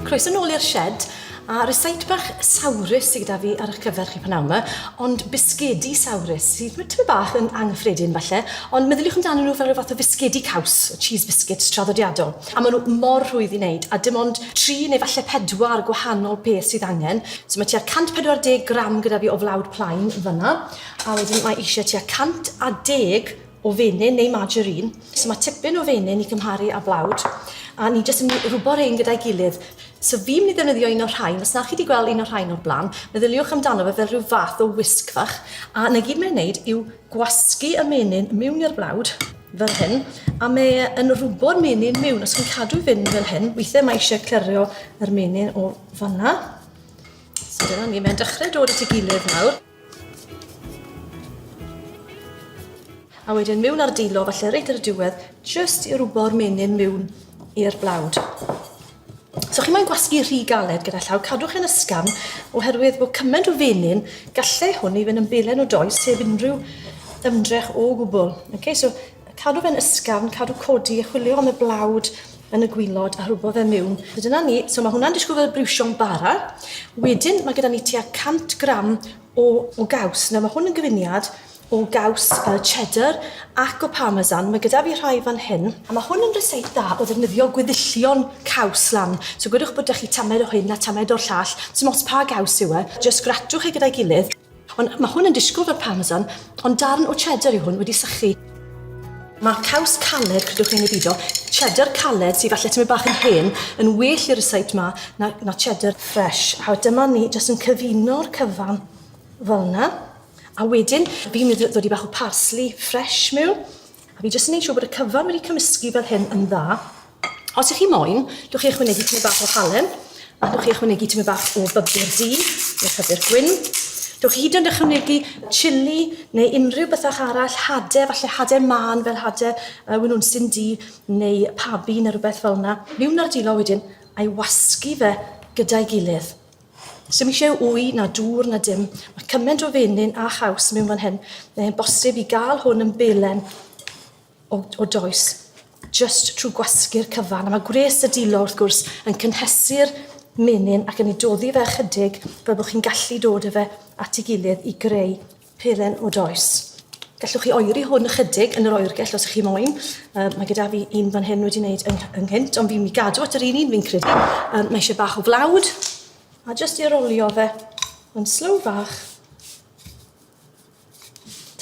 Croeso nôl i'r shed, a rysait bach sawrus sydd gyda fi ar eich cyfer chi pan yma, ond bisgedi sawrus sydd tipyn bach yn anghyffredin falle, ond meddyliwch amdano nhw fel rhyw fath o fisgedi caws, y cheese biscuits traddodiadol. A maen nhw mor rhwydd i wneud, a dim ond tri neu falle pedwar gwahanol peth sydd angen. So mae tua 140 gram gyda fi o flawd plaen fanna, a wedyn mae eisiau tua 110 o fenyn neu margarine. So mae tipyn o fenyn i cymharu â blawd, a ni jyst yn rhwbo rhain gyda'i gilydd. So fi'n mynd i ddefnyddio un o'r rhain, os na chi wedi gweld un o'r rhain o'r blaen, meddyliwch amdano fe fel rhyw fath o wisg fach, a na gyd mae'n wneud yw gwasgu y menyn mewn i'r blawd, fel hyn, a mae e yn rhwbo'r menyn mewn, os chi'n cadw fynd fel hyn, weithiau mae eisiau clyrio yr menyn o fanna. So dyna ni, mae'n dechrau dod at ei gilydd nawr. A wedyn miwn ar dilo, falle reit ar y diwedd, jyst i rwbo'r menyn miwn i'r blawd. So chi moyn gwasgu rhy galed gyda llaw, cadwch yn ysgafn, oherwydd bod cymaint o fenyn, gallai hwn i fynd yn belen o does heb unrhyw ymdrech o gwbl. Okay, so cadw fe'n ysgafn, cadw codi a chwilio am y blawd yn y gwylod a rhwbo fe miwn. So dyna ni, so mae hwnna'n disgwyl fel briwsio'n bara. Wedyn mae gyda ni tua 100 gram o, o gaws. Nawr mae hwn yn gyfuniad o gaws uh, cheddar ac o parmesan. Mae gyda fi rhai fan hyn. A mae hwn yn reseit dda o ddefnyddio gweddillion caws lan. So gwedwch bod ydych chi tamed o hyn a tamed o'r llall. Dim ots pa gaws yw e. Just gratwch e gyda'i gilydd. Ond mae hwn yn disgwyl fel parmesan, ond darn o cheddar yw hwn wedi sychu. Mae caws caled, credwch neu beidio, cheddar caled sydd falle tymyn bach yn hen, yn well i'r ryseit ma na, na cheddar fresh. A dyma ni jyst yn cyfuno'r cyfan fel yna. A wedyn, fi'n mynd i ddod i bach o parsley fresh mewn. A fi jyst yn neud siwr bod y cyfan wedi cymysgu fel hyn yn dda. Os ych chi moyn, dwch chi ychwanegu tymed bach o halen, a dwch chi ychwanegu tymed bach o bybur du, neu pybur gwyn. Dwch chi hyd yn ychwanegu chili, neu unrhyw bethach arall, hade, falle hade man, fel hade uh, winwnsyn du, neu pabi, neu rhywbeth fel yna. Miwn ar dilo wedyn, a'i wasgu fe gyda'i gilydd. Sdim eisiau wy na dŵr na dim. Mae cymaint o fenyn a chaws mewn fan hyn. Mae'n bosib i gael hwn yn belen o, o does, just trwy gwasgu'r cyfan. A mae gwres y dilo, wrth gwrs, yn cynhesu'r menyn ac yn ei doddi fe ychydig fel bod chi'n gallu dod â fe at ei gilydd i greu Peren o does. Gallwch chi oeri hwn ychydig yn yr oergell os ych chi moyn. Um, mae gyda fi un fan hyn wedi wneud yng ynghynt, ond fi'n mi gadw at yr un un fi'n credu. Um, mae eisiau bach o flawd, a jyst i arolio fe yn slow fach.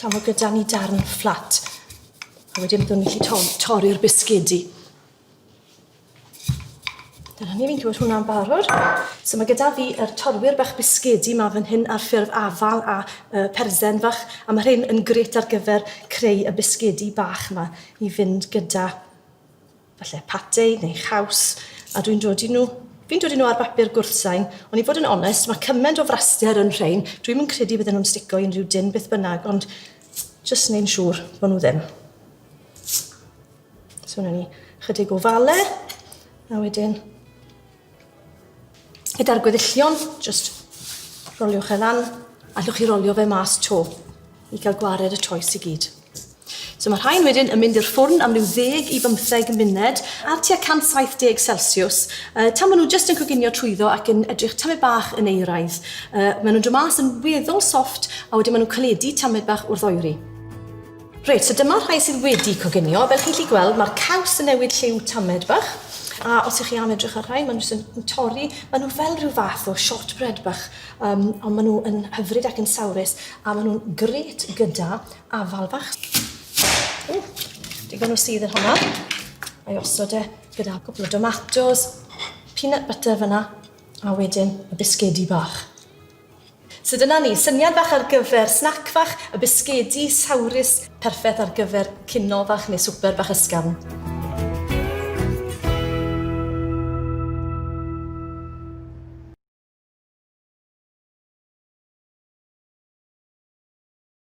Tam o gyda ni darn fflat. A wedyn byddwn ni'n gallu torri'r bisgedi. Dyna ni, fi'n gwybod hwnna'n barod. So mae gyda fi yr torwyr bach bisgedi ma fan hyn ar ffurf afal a uh, persen fach, a mae rhain yn gret ar gyfer creu y bisgedi bach ma i fynd gyda falle patei neu chaws, a dwi'n dod i nhw Fi'n dod i nhw ar bapur gwrthsain, ond i fod yn onest, mae cymaint o fraster yn rhain, dwi'n mynd credu bydden nhw'n stico i unrhyw dyn beth bynnag, ond just neu'n siŵr bod nhw ddim. So wna ni chydig o fale, a wedyn gyda'r gweddillion, just roliwch e lan, allwch chi rolio fe mas to i gael gwared y toes i gyd. So mae rhain wedyn yn mynd i'r ffwrn am ryw 10 i 15 munud ar tua 170 Celsius. Uh, tan maen nhw jyst yn coginio trwyddo ac yn edrych tamed bach yn eiraidd. Uh, maen nhw'n dod mas yn weddol soft a wedyn maen nhw'n caledu tamed bach wrth oeri. Reit, so dyma'r rhai sydd wedi coginio. Fel chi'n lli gweld, mae'r caws yn newid lliw tamed bach. A os ych chi am edrych ar rhai, maen nhw yn torri. Maen nhw fel rhyw fath o shortbread bach, um, ond maen nhw yn hyfryd ac yn sawrus, a maen nhw'n gret gyda afal bach. O, digon o sydd yn hwnna. Mae osod e gyda cwpl o domatos, peanut butter fyna, a wedyn y bisgedi bach. So dyna ni, syniad fach ar gyfer snac fach, y bisgedi sawrus perffeth ar gyfer cinio fach neu swper bach ysgafn.